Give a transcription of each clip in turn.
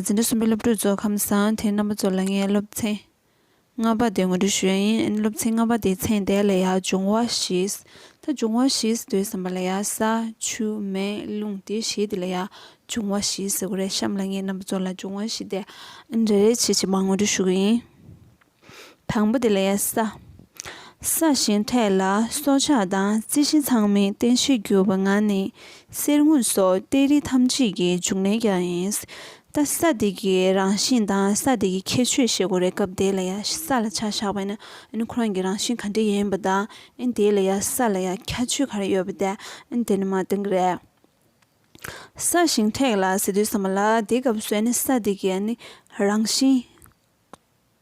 འཛིན་གྲྭ་གསུམ་པའི་སློབ་ཕྲུག་ཚོ་ཁམས་བཟང་དེ་རྣམ་པ་ཚོ་ལ་ངས་སློབ་ཚན་ལྔ་པ་དེ་ངོ་སྤྲོད་ཞུ་ཡ་ཡིན་ཨ་ནི་སློབ་ཚན་ལྔ་པ་དེའི་ཚན་དེ་ལ་ཡ་འབྱུང་བ་ཞིག་ད་འབྱུང་བ་ཞིག་དོད་བསམ་པ་ལ་ཡ་ས་ཆུ་མེ་རླུང་དེ་བཞི་དེ་ལ་ཡ་འབྱུང་བ་ཞིག་ཟེར་གོ་རེད་གཤམ་ལ་ངས་རྣམ་པ་ཚོ་ལ་འབྱུང་བ་ཞིག་དེ་རེ་རེ་བྱེད་བྱེད་མ་ངོ་སྤྲོད་ཞུ་གི་ཡིན། དང་པོ་དེ་ལས་ས། ས་གཞན་འཕྲད་ལ་སྲོག་ཆགས་དང་རྩི་ཤིང་ཚང་མའི་རྟེན་བྱེད་གྱུར་པ་ང་ནི་གསེར་དངུལ་སོགས་གཏེར་རིགས་ཐམས་ཅད་ཀྱི་འབྱུང་གནས་ཀྱང་ཡིན། ད་ས་དེ་གི་རང་བཞིན་དང་ས་དེ་གི་ཁྱད་ཆོས་ཤེས་དགོས་རེད་སྐབས་དེ་ལ་ཡ་ས་ལ་ཆ་བཞག་པ་ནི་ཨན་ཁོ་རང་གི་རང་བཞིན་ག་འདྲ་ཡིན་པ་དང་ཨན་དེ་ལ་ཡ་ས་ལ་ཡ་ཁྱད་ཆོས་ག་རེ་ཡོད་པ་དེ་ཨན་དེ་ནི་མ་བསྟན་གི་རེད། ས་ཞིང་འཕྲད་ལ་ཟེར་དུས་ས་མ་ལ་དེ་སྐབས་སུ་ཨན་ས་དེ་གི་ཨན་རང་བཞིན།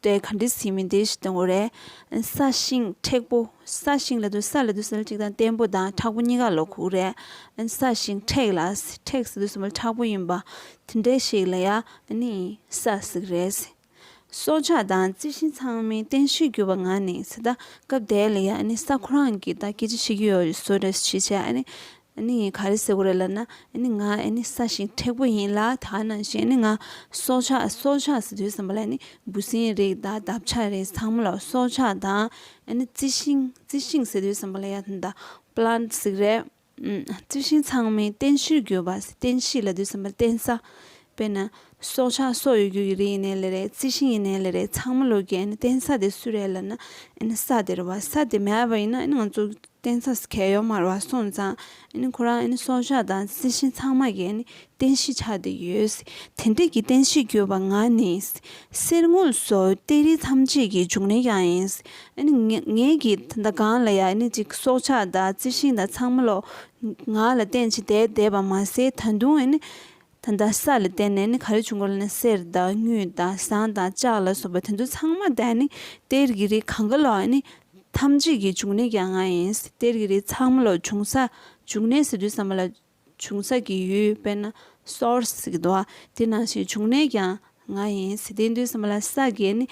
འདྲའི་ག་འདྲའི་ཟིན་མིན་དེ་ཞིག་དང་པོ་རེད། ས་ཞིང་མཁྲེགས་པོ། ས་ཞིང་ལ་དུ་ས་ལ་དུ་ཟེར་གཅིག་དང་བརྟན་པོ་དང་མཁྲེགས་པོ་གཉིས་ཀ་ལོ་ཁུག་རེད། ས་ཞིང་མཁྲེགས་ལ་མཁྲེགས་ཟེར་དུ་ཟེར་མ་མཁྲེགས་པོ་ཡིན་པ་དེ་འདྲའི་ཞིག་ལ་ཡ་ནི་ས་ཟིག་རེད། སྲོག་ཆགས་དང་རྩི་ཤིང་ཚང་མའི་རྟེན་གཞིར་གྱུར་པ་ང་ནི་ད་སྐབས་དེ་ལ་ཡ་ནི་ས་ཁོ་རང་གིས་ད་སྐྱིད་ཅི་བྱེད་ཀྱི་ཡོད་བཟོ་རེ་ཞིག་བྱས་ཨ་ནི། ཨེ་ནི་ངས་ག་རེ་ཟེར་གོ་རེད་ལབ་ན་ཨེ་ནི་ང་ཨེ་ནི་ས་ཞིང་མཁྲེགས་པོ་ཡིན་ལ་ད་ནང་བཞིན་ཨེ་ནི་ང་སྲོག་ཆགས་སྲོག་ཆགས་སུ་དུས་བཟང་པོ་ལ་ཨེ་ནི་འབུ་སྲིན་རིགས་དང་འདབ་ཆགས་རིགས་ཚང་མ་ལ་སྲོག་ཆགས་དང་ཨེ་ནི་རྩི་ཤིང་རྩི་ཤིང་ཟེར་དུས་བཟང་པོ་ལ་ཡ་ད Plants ཟིག་རེད། རྩི་ཤིང་ཚང་མའི་རྟེན་གཞིར་གྱུར་པ་རྟེན་གཞི་ལ་དུས་བཟང་པོ་ལ་རྟེན་ས་དཔེར་ན། སྲོག་ཆགས་སོགས་ཡོད་རྒྱུ་ཡི་རིགས་ཡིན་ནའི་ལེ་རེ་རྩི་ཤིང་ཡིན་ནའི་ལེ་རེ་ཚང་མ་ལོ་རྒྱས་ནས་རྟེན་ས་དེ་སུ་རེད་ལབ་ན། ས་དེ་རུ་བ་ས་དེ་མེད་པ་ཡིན་ན་ང་ཚོ་རྟེན་ས་གས་ཡོག་མར་བ་སོང་ཙང། ཁོ་རང་སྲོག་ཆགས་དང་རྩི་ཤིང་ཚང་མ་གས་ནས་རྟེན་གཞི་ཆགས་དེ་ཡོད། དེ་འདྲ་གི་རྟེན་གཞི་གྱུར་པ་ང་ནི། གསེར་དངུལ་སོགས་གཏེར་རིགས་ཐམས་ཅད་ཀྱི་འབྱུང་གནས་ཀྱང་ཡིན། ངས་ཀྱི་ད་ལྟ་གང་ལ་ཡང་ཅིག་སྲོག་ཆགས་དང་རྩི་ཤིང་དང་ཚང་མ་ལོ་ང་ལ་རྟེན་གྱི་བསྡད་བསྡད་པ་མ་ཟད་ད་དུང། ད་ལྟ་ས་ལ་བལྟས་ནས་ནི་ག་རེ་བྱུང་གི་ལ་ནི་གསེར་དང་དངུལ་དང་ཟངས་དང་ལྕགས་ལ་སོགས་པ་དེ་ཚོ་ཚང་མ་ད་ནི་གཏེར་གྱི་རིགས་གང་ག་ལ་ནི་ཐམས་ཅད་ཀྱི་འབྱུང་གནས་ཀྱང་ང་ཡིན། གཏེར་གྱི་རིགས་ཚང་མ་ལ་འབྱུང་ས་འབྱུང་གནས་ཟེར་དུས་ས་མ་ལ་འབྱུང་ས་ཀྱི་ཡུལ་དཔེར་ན Source ཟེར་གི་འདུག་ཨ་དེ་ནང་བཞིན་འབྱུང་གནས་ཀྱང་ང་ཡིན་དེ་དུས་ས་མ་ལ་ས་དགེ་ནི་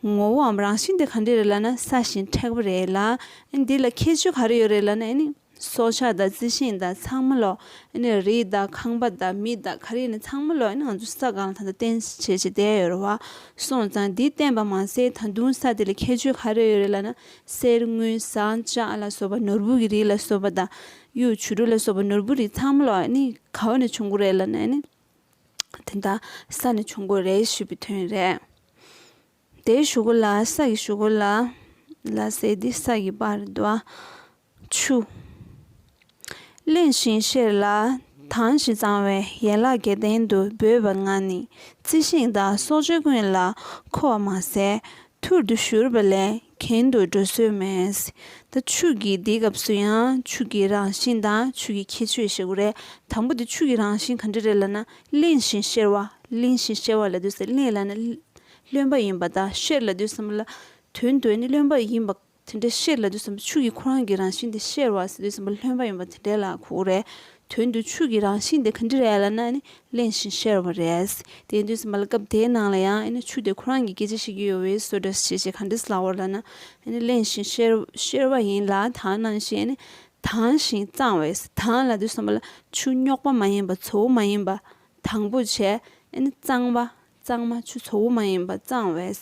ངོ་བོའམ་རང་བཞིན་དེ་ག་འདྲས་རེད་ལ་ན་ས་ཞིང་མཁྲེགས་པ་རེད་ལ་ཨ་ནི་དེ་ལ་ཁྱད་ཆོས་ག་རེ་ཡོད་རེད་ལ་ན་ཨ་ནི། སྲོག་ཆགས་དང་རྩི་ཤིང་དང་ཚང་མ་ལོག། རི་དང་ཁང་པ་དང་མི་དང་གར་ཡིག་ནི་ཚང་མ་ལོག། ང་ཚོ་ས་གང་ལ་ད་ལྟ་བརྟེན་བྱེད་ཅིག་བསྡད་ཡོད་རེད་བ། སོང་ཙང་འདི་བརྟེན་པ་མ་ཟད་ད་དུང་ས་དེ་ལ་ཁྱད་ཆོས་ག་རེ་ཡོད་རེད་ལ་ན། གསེར་དངུལ་ཟངས་ལྕགས་ལ་སོགས་པ་ནོར་བུ་གི་རིགས་ལ་སོགས་པ་དང། གཡུ་བྱུ་རུ་ལ་སོགས་པ་ནོར་བུ་རིགས་ཚང་མ་ལོག་ནི་ག་བ་ནས་བྱུང་གོ་རེད་ལ་ན་ནི། དེ་དག་ས་ནས་བྱུང་གོ་རེད་ཞུས་པའི་དོན་རེད། དེའི་ཞུ་གུ་ལ་ས་ཀྱི་ཞུ་གུ་ལ་ལ་ཟེར་ཏེ་ས་ཀྱི་བར་དུ་ཆུ། གླེང་ཞིང་བཤེར་ལ་དྭངས་ཤིང་གཙང་བའི་ཡན་ལག་བརྒྱད་ལྡན་དུ་འབོད་པ་ལྔ་ནི་རྩི་ཤིང་དང་སྲོག་གཅོད་ཀུན་ལ་མཁོ་བ་མ་ཟད་ཐུར་དུ་བཞུར་བ་ལས་གྱེན་དུ་འགྲོ་སྲོལ་མེད། ད་ཆུ་གིས་འདི་སྐབས་སུ་ཡང་ཆུ་གི་རང་བཞིན་དང་ཆུ་གི་ཁྱད་ཆོས་བཤད་དགོས་རེད། དང་པོ་དེ་ཆུ་གི་རང་བཞིན་ག་འདྲ་རེད་ལ་ན་གླེང་ཞིང་བཤེར་བ་གླེང་ཞིང་བཤེར་བ་ལ་དུས་སུ་གླེང་ལ་ན་བློན་པ་ཡིན་པ་དང་ཤེར་ལ་དུས་སམ་ལ། དོན་དུ་ནི་བློན་པ་ཡིན་པ་དེ་འདྲའི་ཤེར་ལ་དུས་སམ་ཕྱུགས་ཀྱི་ཁོ་རང་གི་རང་བཞིན་དེ་ཤེར་བ་དུས་སམ་བློན་པ་ཡིན་པ་དེ་འདྲའི་ལ་ཁུག་རེད། དོན་དུ་ཕྱུགས་ཀྱི་རང་བཞིན་དེ་ག་འདྲི་རེད་ལ་ན་ནི་གླེན་ཞིང་ཤེར་བ་རེད། དེ་དུས་སམ་ལ་སྐབས་དེའི་ནང་ལ་ཡང་ནི་ཕྱུགས་དེ་ཁོ་རང་གི་སྐད་ཆ་ཤེས་ཀྱི་ཡོད་བས་སོ་འདྲ་ཞེས་ཞེས་ག་འདྲི་སླ་བོར་ལ་ན་ནི་གླེན་ཞིང་ཤེར་བ་ཡིན་ལ་དང་ནང་བཞིན་ནི་དྭངས་ཤིང་གཙང་བས་དྭངས་ལ་དུས་སམ་ལ་ཕྱུགས་རྙོག་པ་མ་ཡིན་པ་ཚོ་བོ་མ་ཡིན་པ་དང་པོ་བྱས་ནི་གཙང་བ། གཙང་མ་ཆུ་ཚོ་བོ་མ་ཡིན་པ་གཙང་བས་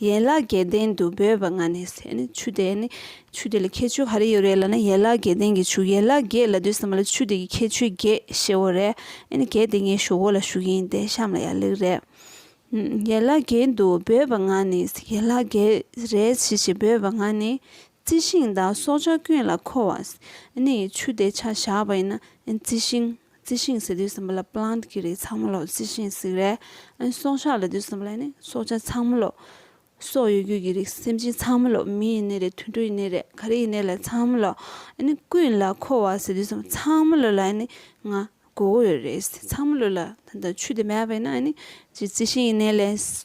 ཡན་ལག་བརྒྱད་ལྡན་དུ་འབོད་པ་ང་ནི་ཟེར་ནས་ཆུ་དེ་ནི་ཆུ་དེ་ལ་ཁྱད་ཆོས་ག་རེ་ཡོད་རེད་ལབ་ན་ཡན་ལག་བརྒྱད་ལྡན་གྱི་ཆུ་ཡན་ལག་བརྒྱད་ལ་དུས་གསུམ་ལ་ཆུ་དེ་གི་ཁྱད་ཆོས་བརྒྱད་ཤེས་བོ་རེད་ཨེ་ནི་གལ་ཏེ་ངའི་ཞོ་གོ་ལ་ཞུགས་ཡིན་ཏེ་བཤམས་ལ་ཡག་ལེགས་རེད། ཡན་ལག་བརྒྱད་དུ་འབོད་པ་ང་ནི་ཡན་ལག་བརྒྱད་རེད་ཅི་ཞེས་འབོད་པ་ང་ནི་རྩི་ཤིང་དང་སྲོག་ཆགས་ཀུན་ལ་མཁོ་བ་ཨེ་ནི་ཆུ་དེ་ཆ་བཞག་པ་ཡིན་ན་རྩི་ཤིང་རྩི་ཤིང་ཟེར་དུས་སེམས་པ་ལ plant གྱི་རིགས་ཚང་མ་ལོག་རྩི་ཤིང་གཟིགས་རལ། སྲོག་ཆགས་ལ་དུས་སེམས་པ་ལ་ནི་སྲོག་ཆགས་ཚང་མ་ལོག། སྲོག་ཡོད་རྒུས་ཀྱི་རིགས་སེམས་ཅན་ཚང་མ་ལོག་མི་ཡི་ནད་རེད་དུད་འགྲོ་ཡི་ནད་རེད་ག་རེ་ཡི་ནད་ལ་ཚང་མ་ལོག། ཀུན་ལ་མཁོ་བ་ཟེར་དུས་སེམས་པ་ཚང་མ་ལོག་ལ་ང་མགོ་བོ་ཡོད་རེད་ཚང་མ་ལོག་ལ་ད་ཆུ་དེ་མེད་པས་ན་ཅི་རྩི་ཤིང་ཡི་ནད་ལས།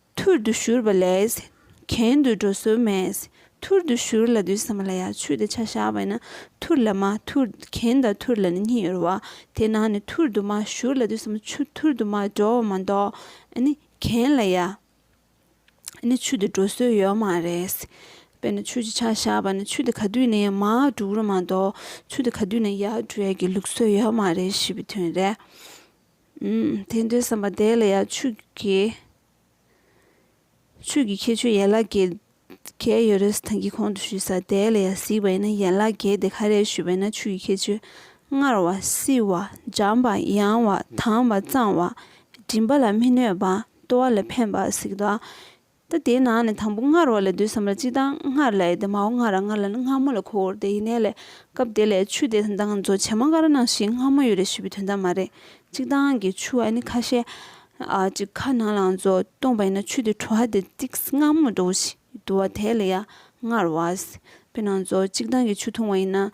ཐུར་དུ་བཞུར་བ་ལས་གྱེན་དུ་འགྲོ་སྲོལ་མེད། ཐུར་དུ་བཞུར་ལ་དུས་སམ་ལ་ཡང་ཆུ་དེ་ཆ་བཞག་པས་ན་ཐུར་ལ་མ་ཐུར་གྱེན་དང་ཐུར་ལ་ནི་གཉིས་ཡོད་རོ། དེས་ན་ནི་ཐུར་དུ་མ་བཞུར་ལ་དུས་སམ་ཆུ་ཐུར་དུ་མ་འགྲོ་བ་མ་གཏོགས་ནི་གྱེན་ལ་ཡང་ནི་ཆུ་དེ་འགྲོ་སྲོལ་ཡོད་མ་རེད། དཔེར་ན་ཆུ་གཅིག་ཆ་བཞག་པ་ན་ཆུ་དེ་ག་དུས་ནས་ཡང་མར་འགྲོ་རུ་མ་གཏོགས་ཆུ་དེ་ག་དུས་ནས་ཡར་འགྲོ་ཡ་གི་ལུགས་སྲོལ་ཡོད་མ་རེད་ཞེས་པའི་དོན་རེད། དེ་འདྲའི་བསམ་པ་དེ་ལ་ཡང་ཆོས་ཀྱི་ཁྱད་ཆོས་ཡན་ལག་བརྒྱད་བརྒྱད་ཡོད་རེད་ཟེར་གྱི་གོང་དུ་ཞུས་ས་དེ་ལ་ཡང་གཟིགས་པ་ཡིན་ན་ཡན་ལག་བརྒྱད་དེ་ག་རེད་ཞུས་པ་ཡིན་ན་ཆོས་ཀྱི་ཁྱད་ཆོས་སྔར་བ་སྲིད་བ་འཇམ་པ་ཡང་བ་དྭངས་བ་གཙང་བ་སྒྲིམ་པ་ལ་མི་གནོད་པ་ལྟོ་བ་ལ་ཕན་པ་གཟིགས་དང་ད་དེའི་ནང་ནས་དང་པོ་སྔར་བ་ལས་བསྡུས་སམ་ལ་སྤྱི་དང་སྔར་ལས་ཏེ་མའོ་སྔར་ར་སྔར་ལ་ནི་སྔ་མོ་ལ་ཁོ་བོར་ཏེ་ཡིན་ནའི་ལས། སྐབས་དེ་ལས་ཆུ་དེ་ད་ང་ཚོ་བྱེ་མ་ཀ་ར་ནང་ཞིག་སྔ་མོ་ཡོད་རེད་ཞེས་པའི་དོན་དག་མ་རེད། གཅིག་ཐང་གི་ཆུ་ཨ་ནི་ཁ་ཤས། གཅིག་ཁ་ནང་ལ་ང་ཚོ་སྟོང་པ་ཡིན་ན་ཆུ་དེ་བྲོ་ཨ་དེ་ཏིག་སྔ་མོ་འགྲོ་བ་ཞིག་འདུག་བ་དེ་ལ་ཡ་སྔར་བ། པའི་ནང་ཚོ་གཅིག་ཐང་གི་ཆུ་འཐུང་བ་ཡིན་ན།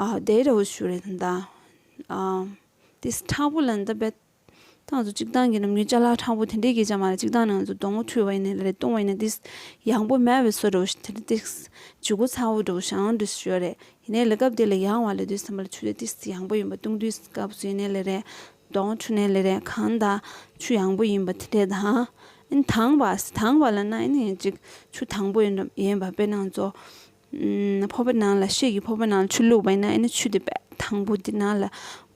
བདེ་རོགས་ཞུ་རེད་དམ་ད། དེ་ཁྲག་པོ་ལ་འདི་རྦད། ད་ང་ཚོ་སྤྱི་བཏང་གི་ནམ་རྒྱུན་བཅའ་ལག་ཁྲག་པོ་དེ་འདྲའི་གས་ཅང་མ་རེད་སྤྱི་བཏང་ནི་ང་ཚོ་སྡོང་བོ་འཁྲུད་བ་ཡིན་ནའི་ལ་རེད་བཏུང་བ་ཡིན་ནའི་དེ། ཡང་པོ་མེད་བའི་སོ་རོགས་ཞུ་དེ་བྱུ་གུ་ཚ་བོ་འགྲོ་ཞང་འགྲོ་ཞུ་རེད་ཡིན་ནའི་ལ་སྐབས་དེ་ལ་ཡང་བ་ལ་དུས་ས་མ་ལ་ཆུ་དེ་དེ་ཡང་པོ་ཡིན་པ་བཏུང་དུས་སྐབས་སུ་ཡིན་ནའི་ལ་རེད་སྡོང་བོ་འཁྲུད་ནའི་ལ་རེད་གང་ད་ཆུ་ཡང་པོ་ཡིན་པ་དེ་འདྲས་དང། ཨིན་དང་བ། དང་བ་ལ་ན་ཨིན་ཡིན་ཅིག་ཆུ་དང་པོ་ཡིན་འགྲོ་ཡིན་པ་དཔེར་ན་ང་ཚོ། ཕོར་པ་ནང་ལ་ཤེལ་གྱི་ཕོར་པ་ནང་ལ་ཆུ་བླུགས་པ་ཡིན་ན་ཡིན་ན་ཆུ་དེ་དང་པོ་དེ་ནང་ལ་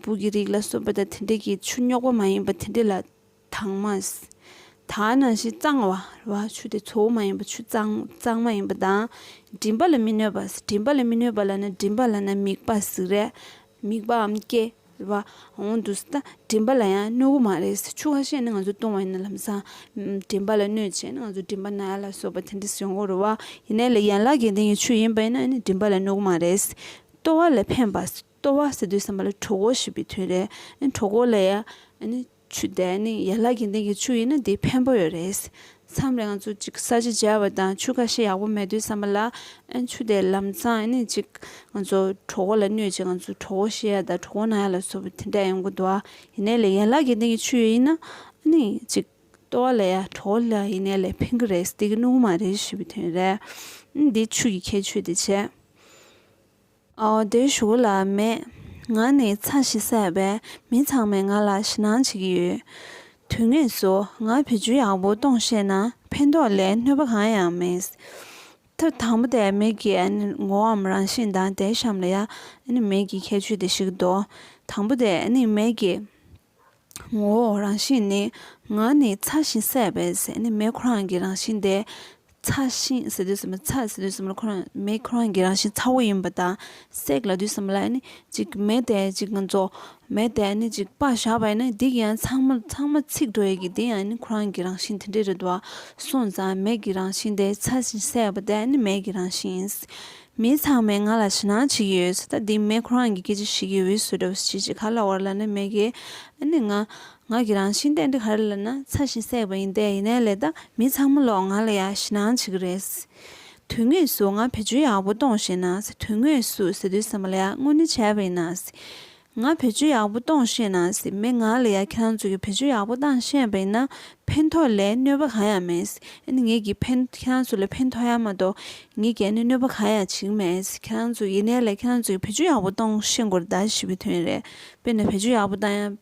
སྦུག་གི་རིགས་ལ་སོགས་པ་དང་དེ་འདྲ་གི་ཆུ་རྙོག་པ་མ་ཡིན་པ་དེ་འདྲ་ལ་དྭངས་མ། ད་ནང་བཞིན་གཙང་བ་རེད་བ་ཆུ་དེ་ཚོ་བོ་མ་ཡིན་པ་ཆུ་གཙང་མ་ཡིན་པ་དང་མགྲིན་པ་ལ་མི་གནོད་པ་མགྲིན་པ་ལ་མི་གནོད་པ་ལ་ན་མགྲིན་པ་ལ་ན་མིག་པ་ཟིག་རེད་མིག་པའམ་སྐྱེས། བ། འོང་དུས་ད་དྲིན་པ་ལ་ཡང་གནོད་སྒོ་མ་རེད། ཆུ་ཁ་ཤས་ནི་ང་ཚོས་བཏུང་བ་ཡིན་ན་ལམ་སང་དྲིན་པ་ལ་གནོད་བྱས་ནི་ང་ཚོ་དྲིན་པ་ན་ལ་སོགས་པ་དེ་འདྲ་ཟེར་འོང་རུང་བ། ཡིན་ནའི་ལ་ཡན་ལག་གི་སྟེང་གི་ཆུ་ཡིན་པ་ཡིན་ན་ནི་དྲིན་པ་ལ་གནོད་སྒོ་མ་རེད། ལྟོ་བ་ལ་ཕན་པ། ལྟོ་བ་ཟེར་དུས་བསམ་པ་ལ་གྲོགས་འགོ་ཞེས་པའི་དོན་རེད། གྲོགས་འགོ་ལ་ཡང། ཆུ་དེ་ནི་ཡན་ལག་གི་སྟེང་གི་ཆུ་ཡིན་ན་དེ་ཕན་པོ་ཡོད་རེད། མཚམས་རེ་ང་ཚོ་གཅིག་ས་ཆ་འཇལ་བ་དང་ཆུ་ཁ་ཤས་ཡག་པོ་མེད་དུས་བསམ་པ་ལ་ཨེ་ཆུ་དེ་ལམ་ཚང་ཨེ་ཅིག་ང་ཚོ་གྲོགས་བོ་ལ་གནོད་ཅིག་ང་ཚོ་གྲོགས་བོ་ཤེས་ཡ་དང་གྲོགས་བོ་ན་ཡ་ལ་བཟོ་བོ་དེ་འདྲ་ཡོང་གི་འདུག་ཨ་ཡིན་ནའི་ལས་ཡན་ལག་གི་སྟེང་གི་ཆུ་ཡོད་ཡིན་ན་ཨེ་ཅིག་ལྟོ་བ་ལ་ཡ་གྲོགས་བོ་ལ་ཡིན་ནའི་ལས་ཕན་གི་རེད་སྟེ་གི་ནུ་གུ་མ་རེད་ཞུ་བའི་དོན་རེད། འདི་ཆུ་གི་ཁྱད་ཆོས་དེ་བྱས། བདེ་བཞུགས་ལ་མེད། ང་ནི་ཚ་ཞིང་བསད་པས་མི་ཚང་མས་ང་ལ་ཞེད་སྣང་བྱེད་ཀྱི་ཡོད། དུས་ངེས་སུ་ང་བེད་སྤྱོད་ཡག་པོ་གཏོང་ཤེས་ན་ཕན་ཐོགས་ལས་གནོད་པ་གང་ཡང་མེད། ཐབས་དང་པོ་དེ་མེད་ཀྱི་ངོ་བོའམ་རང་བཞིན་དང་དེའི་གཤམ་ལ་ཡང་མེད་ཀྱི་ཁྱད་ཆོས་དེ་ཞིག་འདུག་དང་པོ་དེ་མེད་ཀྱི། ངོ་བོ་རང་བཞིན་ནི་ངག་ནི་ཚ་ཞིང་བསྲེགས་པའི་ཟས་ནི་མེ་ཁོ་རང་གི་རང་བཞིན་ཏེ། ཚ་ཞིང་བསྲེགས་དུས་སམ་ཚ་བསྲེགས་དུས་སམ་ཁོ་རང་མེ་ཁོ་རང་གི་རང་བཞིན་ཚ་བོ་ཡིན་པ་དང་བསྲེགས་ལ་དུས་སམ་ལ་ནི་གཅིག་མེ་དེ་གཅིག་ང་ཚོ་མེ་དེ་ནི་གཅིག་པར་བཞག་པས་ནི་འདི་ཡང་ཚང་མ་ཚང་མ་ཚིག་འགྲོ་ཡི་གི་དེ་ཡང་ནི་ཁོ་རང་གི་རང་བཞིན་དེ་འདྲས་རེད་དོ། སོང་ཙང་མེ་གི་རང་བཞིན་དེ་ཚ་ཞིང་བསྲེགས་པ་དེ་ནི་མེ་གི་རང་བཞིན་ཡིན། མི་ཚང་མས་ང་ལ་ཕྱི་ནང་གཅིག་ཡོད་ཟེར་ད་འདི་མེད་ཁོ་རང་གི་སྐད་ཆ་ཞིག་གིས་འུད་སུ་འདྲ་བོ་ཞིག་གིས་ག་ལ་བར་ལ་ནི་མེད་གི་ཨ་ནི་ང། ང་གི་རང་བཞིན་ཏན་ཏིག་ཧ་རེ་ལ་ན་ཚ་ཞིང་བསྲེགས་པ་ཡིན་ཏེ་ཡིན་ནའི་ལེ་ད་མི་ཚང་མ་ལོག་ང་ལ་ཡ་ཕྱི་ནང་གཅིག་གི་རེད། དོན་དངོས་སུ་ང་བེད་སྤྱོད་ཡག་པོ་གཏོང་ཤེས་ན་ཟེར་དོན་དངོས་སུ་ཟེར་དུས་ཟ་མ་ལ་ཡ་དངོས་ནི་བྱས་པ་ཡིན་ན་ཟེར། ང་བེད་སྤྱོད་ཡག་པོ་གཏོང་ཤེས་ན་སྲིད་མི་ང་ལ་ཡ་ཁྱང་ཚོད་ཀྱི་བེད་སྤྱོད་ཡག་པོ་གཏང་ཤེས་པ་ཡིན་ན་ཕན་ཐོག་ལས་གནོད་པ་གང་ཡང་མེད་སྲིད་ཨ་ནི་ངེད་ཀྱིས་ཕན་ཁྱང་ཚོད་ལ་ཕན་ཐོག་ཡ་མ་གཏོགས་ངེད་ཀྱིས་ཨ་ནི་གནོད་པ་གང་ཡང་བྱིན་མེད་སྲིད་ཁྱང་ཚོད་ཡིན་ནའི་ལས་ཁྱང་ཚོད་ཀྱི་བེད་སྤྱོད་ཡག་པོ་གཏོང་ཤེས་དགོས་རེད་ད་ཞི་བའི་དོན་རེད་དཔེར་ན་བེད་སྤྱོད་ཡག་པོ་གཏང་ཡ་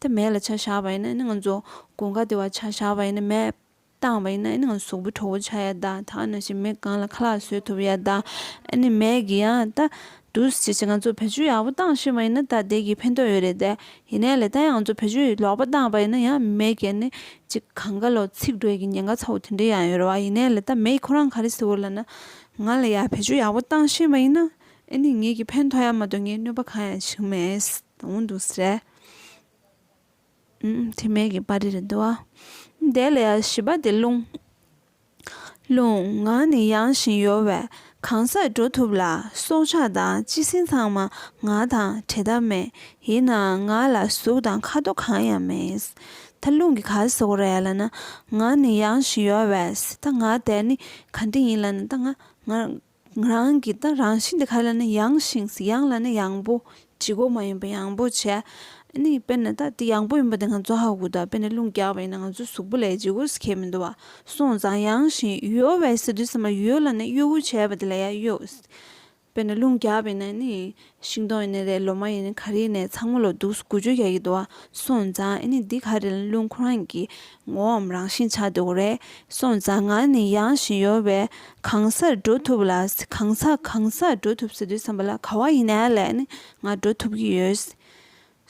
ད་མེད་ལ་ཆ་བཞག་པ་ཡིན་ན་ཨ་ནི་ང་ཚོ་དགུན་ཁ་དེ་བ་ཆ་བཞག་པ་ཡིན་ན་མེད། བཏང་བ་ཡིན་ན་ཨེ་ནི་ང་སོག་པོའི་ཁྲོ་བོ་ཆགས་ཡ་ད་ད་ཨ་ནི་ཞེས་མི་གང་ལ་ཁ་ལག་གསོད་ཐུབ་ཡ་ད་ཨེ་ནི་མེད་གི་ཡ་ད་འདུག་ཅེས་ང་ཚོར་བེད་སྤྱོད་ཡག་པོ་བཏང་ཤེས་པ་ཡིན་ན་ད་བདེ་གི་ཕན་ཐོག་ཡོད་རེད་དེ་ཡིན་ནའི་ལས་ད་ཡང་ང་ཚོར་བེད་སྤྱོད་ལོག་པ་བཏང་བ་ཡིན་ན་ཡང་མེད་གི་ཨེ་ནི་ཅི་གང་ག་ལོག་ཚིག་འགྲོས་ཀྱི་ཉེན་ཁ་ཚ་བོ་དེ་འདྲའི་ཡང་ཡོད་རེད་བ་ཡིན་ནའི་ལས་ད་མེད་ཁོ་རང་ག་རེ་ཟེར་བ་ལ་ན་ང་ལ་ཡང་བེད་སྤྱོད་ཡག་པོ་བཏང་ཤེས་པ་ཡིན་ན་ཨེ་ནི་ངེད་ཀྱི་ཕན་ཐོག་ཡ་མ་གཏོགས་ངའི་གནོད་པ་གང་ཡང་ཞིག་མེད་ད་འུ་འདུག་ཟེར། དྲི་མེད་ཀྱི་པར་རིས་བསྡུ་བ། དེ་ལས་བཞི་པ་དེ་རླུང། རླུང་ངག་ནི་ཡང་བཞིན་ཡོ་བས་གང་སར་འགྲོ་ཐུབ་ལ་སྲོག་ཆགས་དང་སྤྱི་སྲིན་ཚང་མ་ངག་དང་བྲལ་ཐབས་མེད་ཡིན་ནའང་ངག་ལ་གཟུགས་དང་ཁ་དོག་གང་ཡང་མེད། ད་རླུང་གི་གར་ཟོག་རེད་ལ་ན་ངག་ནི་ཡང་བཞིན་ཡོ་བས་ད་ངག་དེ་ནི་གང་དྲི་ཡིན་ལ་ན་ད་ངག། ང་རང་གིས་ད་རང་བཞིན་དེ་ག་ལ་ནི་ཡངས་ཤིང་ཡངས་ལ་ནི་ཡངས་པོ་བྱེད་སྒོ་མ་ཡིན་པ་ཡངས་པོ་བྱས་ཨཱ་ནི་དཔེར་ན་ད་དེ་ཡངས་པོ་ཡིན་པ་དེ་ང་ཚོ་ཧ་གོ་ད་དཔེར་ན་རླུང་རྒྱག་པ་ཡིན་ན་ང་ཚོའི་གཟུགས་པོ་ལས་བྱེད་སྒོ་ཟེར་མཁན་མི་འདུག་བ་སོང་ཙང་ཡངས་ཤིང་གཡོ་བའི་ཟེར་དུས་ཚང་མ་གཡོ་ལ་ནི་གཡོ་འུར་བྱས་པ་དེ་ལ་ཡང་གཡོ། དཔེར་ན་རླུང་རྒྱག་པ་ཡིན་ན་ནི་ཤིང་སྡོང་ཡིན་ནི་རེད་ལོ་མ་ཡིན་ནི་ག་རེ་ཡིན་ནས་ཚང་མ་ལོ་དུག་དགུ་བཅུ་གྱ་གྱི་འདུག་བ་སོང་ཙང་ཨེ་ནི་འདི་ག་རེ་ལ་ལུང་ཁོ་རང་གི་ངོའམ་རང་བཞིན་ཆགས་འདུག་རེད་སོང་ཙང་ང་ནི་ཡང་བཞིན་ཡོད་བས་གང་སར་འགྲོ་ཐུབ་ལ་གང་ས་གང་སར་འགྲོ་ཐུབ་ཟེར་དུས་བསམ་པ་ལ་ག་བ་ཡིན་ནའི་ལས་ནི་ང་འགྲོ་ཐུབ་ཀྱི་ཡོད།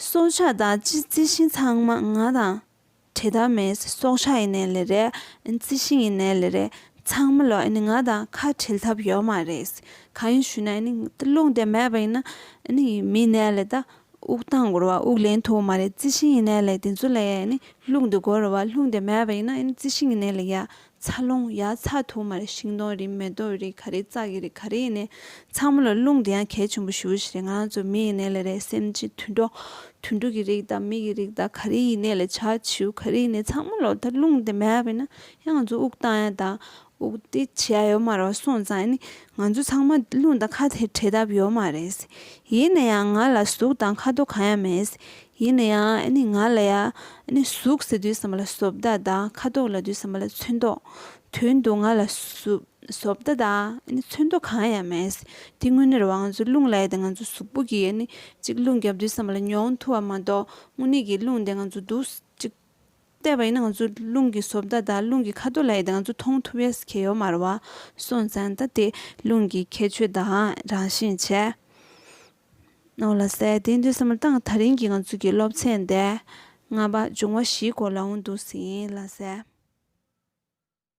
སྲོག་ཆགས་དང་ཅི་རྩི་ཤིང་ཚང་མ་ང་དང། ཁྲེ་དང་མེ་སོགས་ཤ་ཡི་ནད་ལས་རེད། རྩི་ཤིང་ཡི་ནད་ལས་རེད། ཚང་མ་ལོ་ང་དང་ཁ་བྲལ་ཐབས་ཡོད་མ་རེད། གང་ཡིན་ཞུས་ན་རླུང་དེ་མེད་པ་ཡིན་ན་མིའི་ནད་ལས་ད་དབུགས་གཏང་དགོས་ར་བ་དབུགས་ལེན་ཐུབ་མ་རེད་རྩི་ཤིང་ཡི་ནད་ལས་དེ་ཚོ་ལས་རླུང་དེ་དགོས་ར་བ་རླུང་དེ་མེད་པ་ཡིན་ན་རྩི་ཤིང་ཡི་ནད་ལས་ཡག་ཚ་རླུང་ཡར་ཚ་དུ་མར་ཤིང་སྡོང་རིགས་མེ་ཏོག་རིགས་ག་རེ་བཙག་གི་རེད་ག་རེ་ཡིན་ནའི་ཚང་མ་ལ་རླུང་དེ་ཡང་གལ་ཆེན་པོ་ཞུ་བ་ཞིག་རེད་ང་རང་ཚོ་མི་ཡིན་ནའི་ལ་རས་སེམས་ཅན་དུད་འགྲོ་དུད་འགྲོ་གི་རིགས་དང་མི་གི་རིགས་དང་ག་རེ་ཡིན་ནའི་ལ་བྱ་བྱིའུ་ག་རེ་ཡིན་ནའི་ཚང་མ་ལ་ད་རླུང་དེ་མེད་པས་ན་ཡང་ང་ཚོ་དབུགས་བཏང་ཡ་དང་དབུགས་དེ་ཕྱི་ཡ་ཡོད་མ་རེད་བ་སོང་ཙང་ནི་ང་ཚོ་ཚང་མ་རླུང་དང་ཁ་ཐེ་བྲལ་ཐབས་ཡོད་མ་རེད། ཡིན་ན་ཡང་ང་ལ་ཟུག་དང་ཁ་དོག་གང་ཡང་མེད། ཡིན་ན་ཡང་ང་ལ་ཡ། ཟུག་ཟེར་དུས་ཟ་མ་ལ་བཟོ་བདག་དང་ཁ་དོག་ལ་དུས་ཟ་མ་ལ་ཚོན་མདོག། དོན་དུ་ང་ལ་བཟོ་བདག་དང་ཚོན་མདོག་གང་ཡང་མེད། དེ་དངོས་གནས་རང་ཚོའི་རླུང་ལས་དེ་ང་ཚོའི་གཟུགས་པོ་གིས་གཅིག་རླུང་རྒྱབ་དུས་ཟ་མ་ལ་མྱོང་ཐུབ་པ་མ་གཏོགས་དངོས་གནས་ཀྱི་རླུང་དེ་ང་ཚོ་སྡུག་གཅིག། བལྟས་པ་ཡིན་ན་ང་ཚོ་རླུང་གི་བཟོ་བདག་དང་རླུང་གི་ཁ་དོག་ལས་དེ་ང་ཚོ་མཐོང་ཐུབ་བས་གལ་ཡོད་མ་རེད་བ། སོང་ཙང་ད་དེ་རླུང་གི་ཁྱད་ཆོས་དང་རང་བཞིན་བྱས། ནོར་ལ་སའི་གདན་བདུན་གསུམ་དང་ཐག་རིང་གི་ངང་ཚུལ་གྱི་སློབ་ཚན་བདེ་ལྔ་པ་འབྱུང་བ་བཞིའི་སྐོར་ལའང་འདུག་ཟིན་ལ་སའི།